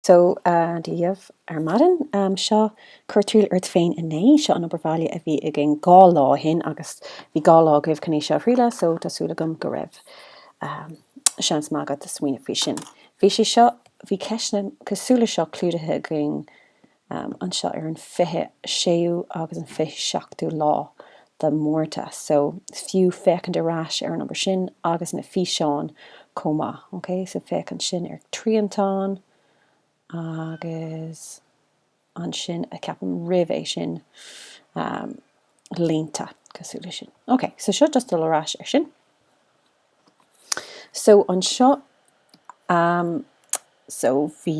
So, uh, Dia dhaoibh ar maidin. Um, seo, cuir triail ort féin a naoi. Seo an obair bhaile a bhí againn dhá lá ó shin agus bhí dhá lá agaibh chun é seo a thrialadh, so tá súil agam go raibh um, seans maith agat a smaoineamh faoi sin. Bhí sé seo, bhí ceisteanna cosúil le seo clúdaithe againn um, anseo ar an 26ú agus an 27ú lá de Mhárta so is fiú féachaint ar ais ar an obair sin agus na físeáin chomh maith ok so féachaint ansin ar triantán agus ansin a ceapaim roimh é sin am línte cosúil le sin ok so seo just dul ar ais ar sin so anseo am so bhí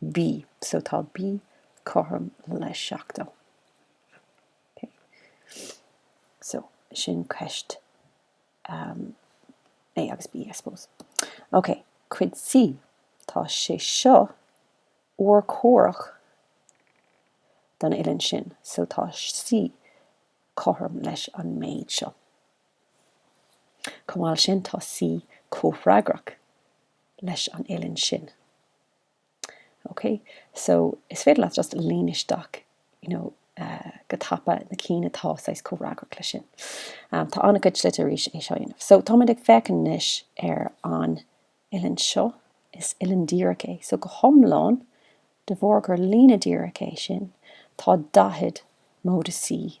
B, so tá B cothrom le 70. Ok, so sin ceist um, A agus B, I suppose. Ok, cuid C, tá sé seo urchomhaireach don uillinn sin, so tá C cothrom leis an méid seo. Chomh maith leis sin, tá C comhfhreagrach leis an uillinn sin. OK, so is féidir leat just líon isteach you know go tapa na cinn atá saghas comhfhreagrach leis sin. Tá an-chuid slite arís é seo a dhéanamh. So táimid ag féachaint anois ar an uillinn seo, is uillinn dhíreach é. So go hiomlán, de bharr gur líne dhíreach é sin, tá 40 móide C.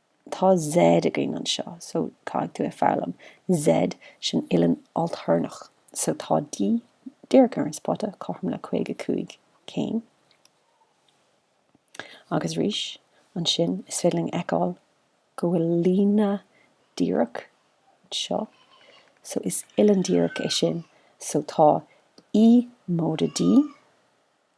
Tá Z againn anseo, so caithfidh tú é foghlaim. Z, sin uillinn ailtéarnach. So tá D díreach ar an spota, cothrom le 55 céim. Agus arís, ansin, is féidir linn fheiceáil go bhfuil líne díreach anseo, so is uillinn díreach é sin. So tá E móide D.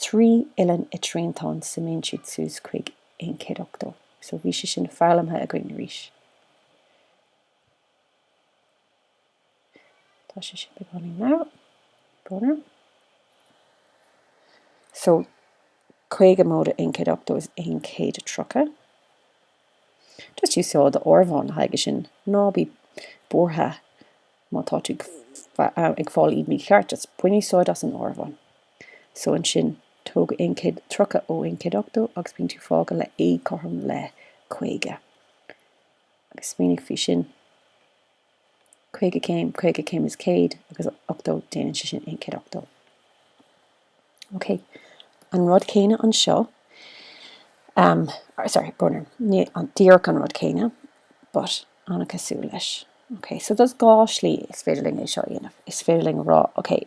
Trí uillinn i dtriantán suimíonn siad suas chuig 180. So bhí sé sin foghlamtha againn arís. Tá sé sin beagáinín, now. Brón orm. So 50 móide 180 is 130. Just úsáid d'áireamhán le haghaidh sin ná bí buartha má tá tú ag fáil iad mícheart, just bain úsáid as an áireamhán. So ansin tóg aon chéad tríocha ó aon chéad ochtó agus bíonn tú fágtha le A cothrom le caoga. Agus smaoinigh faoi sin, caoga céim, caoga céim is céad agus ochtó, déanann sé sin aon chéad ochtó. Ok, an rud céanna anseo, um, sorry, brón orm, ní an díreach an rud céanna, but an-chosúil leis. Ok, so there's dhá slí is féidir linn é seo a dhéanamh. Is féidir linn rá, ok,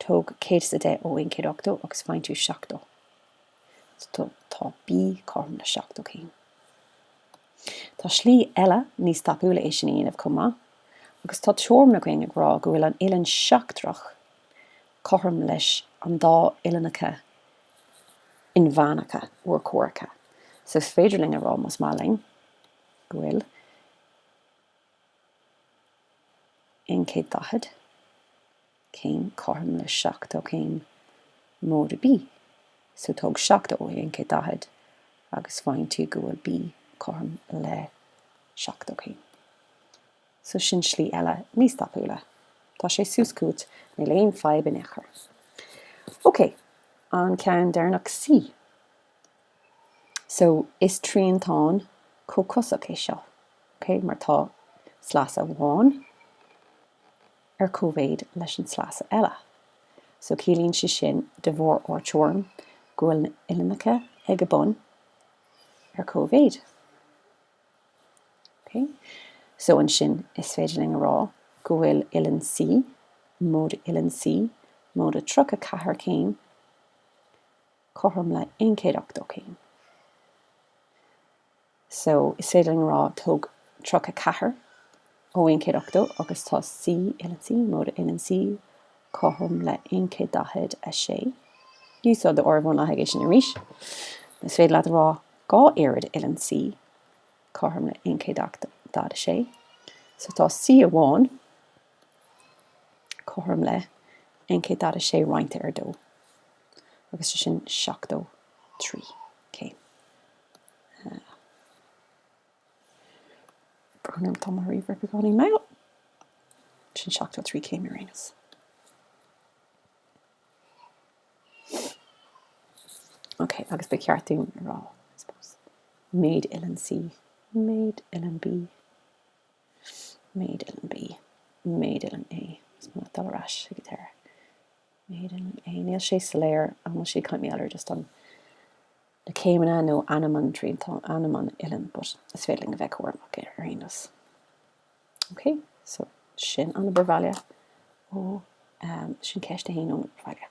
Tóg 100 is a 10 ó 180 agus faigheann tú 70. So tá B cothrom le 70 céim. Tá slí eile níos tapúla é sin a dhéanamh chomh maith agus tá teoirim againn ag rá go bhfuil an uillinn sheachtrach cothrom leis an dá uillinneacha inmheánacha urchomhaireacha. So is féidir linn a rá, más maith linn, go bhfuil. 140 céim cothrom le 70 céim móide B, so tóg 70 ó 140 agus faigheann tú go bhfuil B cothrom le 70 céim. So sin slí eile níos tapúla. Tá sé suas chugat, níl aon fadhb in aon chor. Ok, an ceann deireanach C. So, is triantán comhcosach é seo, ok? Mar tá sleasa amháin ar cóimhéid leis an sleasa eile. So, ciallaíonn sé sin, de bharr ár teoirim, go bhfuil na uillinneacha ag a bun ar cóimhéid. Ok? So, ansin, is féidir linn a rá go bhfuil uillinn C, móide uillinn C, móide 34 céim, cothrom le 180 céim. So, is féidir linn a rá, tóg 34 ó 180 agus tá C, uillinn C, móide uillinn C, cothrom le 146. Úsáid do áireamhán le haghaidh é sin arís. Is féidir leat a rá, dhá oiread uillinn C, cothrom le 146. So, tá C amháin cothrom le 146 roinnte ar dó. agus sin 73 céim. Brón orm, tá mo ríomhaire beagáinín mall. Sin 73 céim ar aon nós. Ok, agus ba cheart dúinn a rá, I suppose. Méid uillinn C, méid uillinn B, méid uillinn B, méid uillinn A. Is mé ag dul ar ais ag an deireadh. méid uillinn A. Níl sé soiléir an bhfuil sé ag caint mar gheall ar just an na céimeanna nó ainm an triantán, ainm an uillinn, but is féidir linn a bheith cúramach ar aon nós. Ok, so sin an obair bhaile ó um, sin ceist a haon ón obair bhaile.